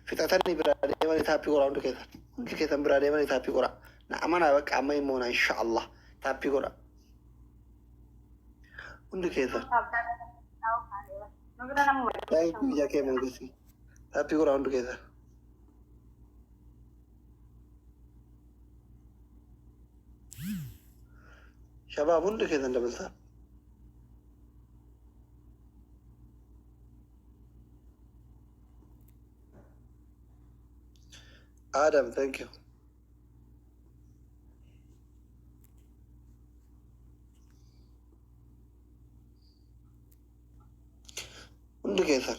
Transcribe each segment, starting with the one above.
fixatanii biraa deemanii taappii qoraa hundi keessan hundi keessan biraa deemanii taappii qoraa na amanaa bakka amma immoo na insha Allah taappii qoraa hundi keessan daa'imni biyya kee mangistii taappii qoraa hundi keessan. Shabaab hundi keessan dabaltaan. Adam, thank you. Hundi keessan.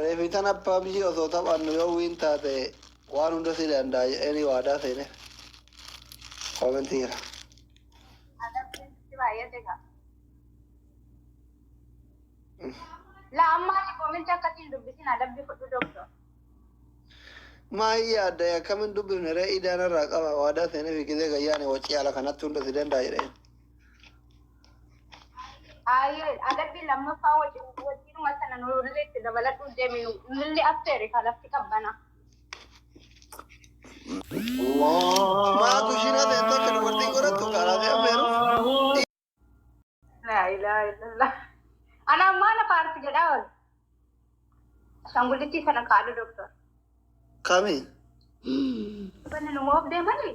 Reefi tana pubg osoo taphannu yoo win taate waan hunda si danda'a jedheenii waadaa seeneef. Comment jira. Adabbiin sitti baay'ate kaa. La ammaati koominti akkatti hin dubbisin adabbi fudhu doktor. Maa hin yaadda akkamin dubbifne ree idaana irraa qaba waadaa seeneef gizee gayyaane waccii ala kanatti hunda si danda'a jedheen. Aayee adabbii lammaffaa wajjin wajjinuma sana nurri itti dabaladhuu deeminu nurri affeeri ka lafti qabbana. Maatu ishiin hafe hin tokko dubartii godhattu karaa fi affeeru. Laa ilaaha illallah. Ana ammaa na paarti jedhaa ol. Ashaangullitii sana kaadhu doktor. Kami? Banni nu moof deemanii?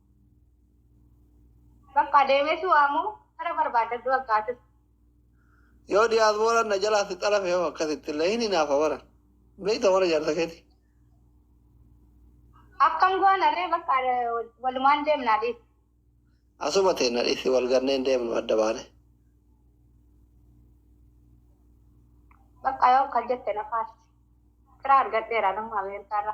Bakka deemee si waamu kara barbaadadhu bakka atis. Yoo diyaasbooraan na jalaa si xalafe hoo akkasitti illee hin hinaafa bara. Beekta bara jaarsa keeti. Akkam goona ree bakka walumaan deemnaa dhiis. Asuma ta'e na dhiisi wal ganneen deemnu adda baane. Bakka yoo akkas jette na faarsi. Kira argadheera nama Ameerikaarra.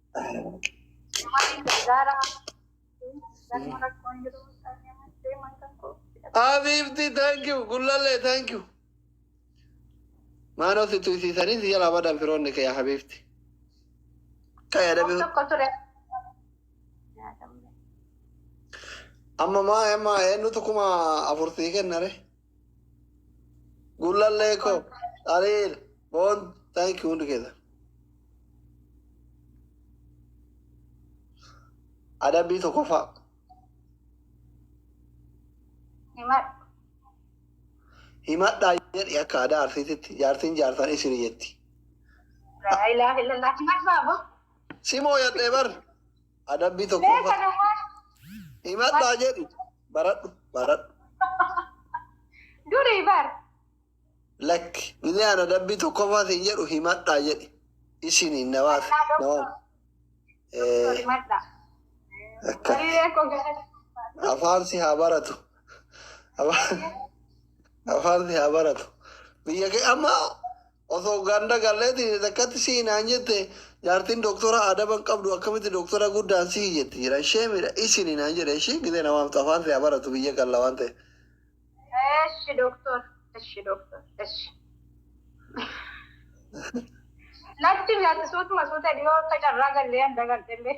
Habiibti thank you gullallee thank you. Maanoo si tuysiisanii si jalaa badan firoonni kee yaa habiibti. Kan yaadame amma maa amma eenyutu kuma afur sii kennare. Gullallee koo. Ariil. Boon. Thank you hundi keessa. Adabbii tokkoffaa. Himadhu. Himadhaa jedhi akka aadaa arsiititti jaartiin jaarsan isin jetti. Laa ilaaha illallah. Himadhu baabo. Simoo yadhee bar. Adabbii Beeka tokkoffaa. namaa. Himadhaa jedhi. Baradhu baradhu. Durii bar. Lakki inni ana dabbii tokkoffaa siin jedhu himadhaa jedhi. Isiniin nawaaf nawaaf. Eh, Himadha. Akka Hiriiree koo gara. afaan si haa baratu. Afaan- Afaan si haa baratu. Biyya kee amma Osoo ganda gallee diinni takkatti si'i naan jette jaartiin doktora adaba hin qabdu akkamitti doktora guddaan si'i jetti jira ishee miidha isini naan jedhe ishii gizee na waamtu afaan si haa baratu biyya galla waan ta'e. Eshi doktor. Eshi doktor. Eshi. Latti mi'aatti suutuma suuta dhiyoo akka carraa gallee handa galtellee.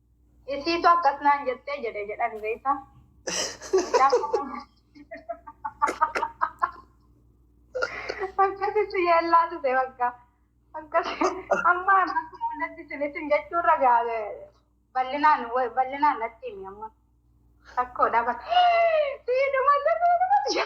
Isiitu akkas naan jettee jedhe jedhan beekta. Akkasitti yeellaa ture bakka. Akkasi amma natti sinisin jechuurra gaale bal'inaan bal'inaan natti himi amma. Rakkoo dhabate. Siidhuma siidhuma jedhe.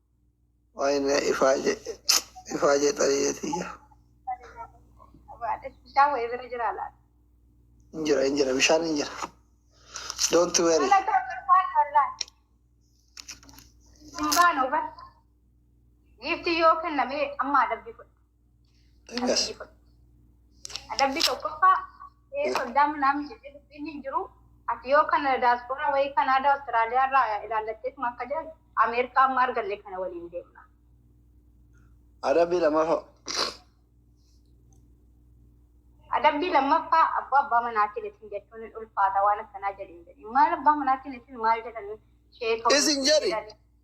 Wayne ifaaje ifaaje xariyee tiyya. Bishaan wayii bira jira laata? Hin jira hin jira bishaan hin jira. Don't worry. Hin baanu bar. Giiftii yoo kenname amma adabbii fudhata. Akkas. Adabbii tokkoffaa ee soddaa minaam jedhee dubbiin hin jiru. Ati yoo kana daaspooraa wayii Kanaadaa Awustiraaliyaa irraa ilaallatteetuma akka jedhan Ameerikaa amma arganne kana waliin deemna. Adabbii lammaffaa. Adabbii lammaffaa abbaa abbaa manaa keetiin jechuun hin ulfaata waan akkanaa jedhin jedhin. Maal abbaa manaa keetiin maal jedhan sheeka Isin jedhi.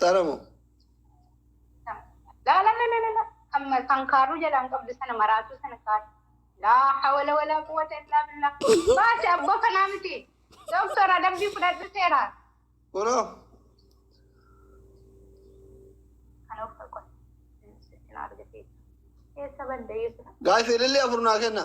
Xaramo. La la la la la la. Kan ma- kan kaaruu jalaan qabdu sana maraatuu sana kaadhu. Laa hawala walaa quwwata illaa billaa. Baasi abboo kanaa miti. Doktora dabbii fudhadhu seera. Kunoo. Kan of kakkoon. Sittin argatee. Keessa badda yeesudha. Gaafii ilillee afur naa kenna.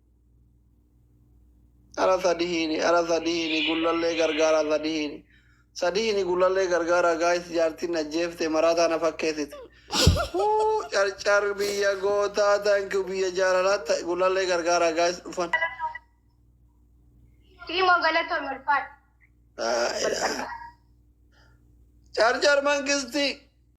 Ara sadihini ara sadihini gullallee gargaara sadihini sadihini gullallee gargaara gaayis jaartiin ajjeefte maraataa na fakkeesite Huu, carcar biyya gootaa thank you biyya jaalalaa ta- gullallee gargaara gaayis dhufan Siimo galatoon ulfaadha. Laa ilaaha. carcar mangistii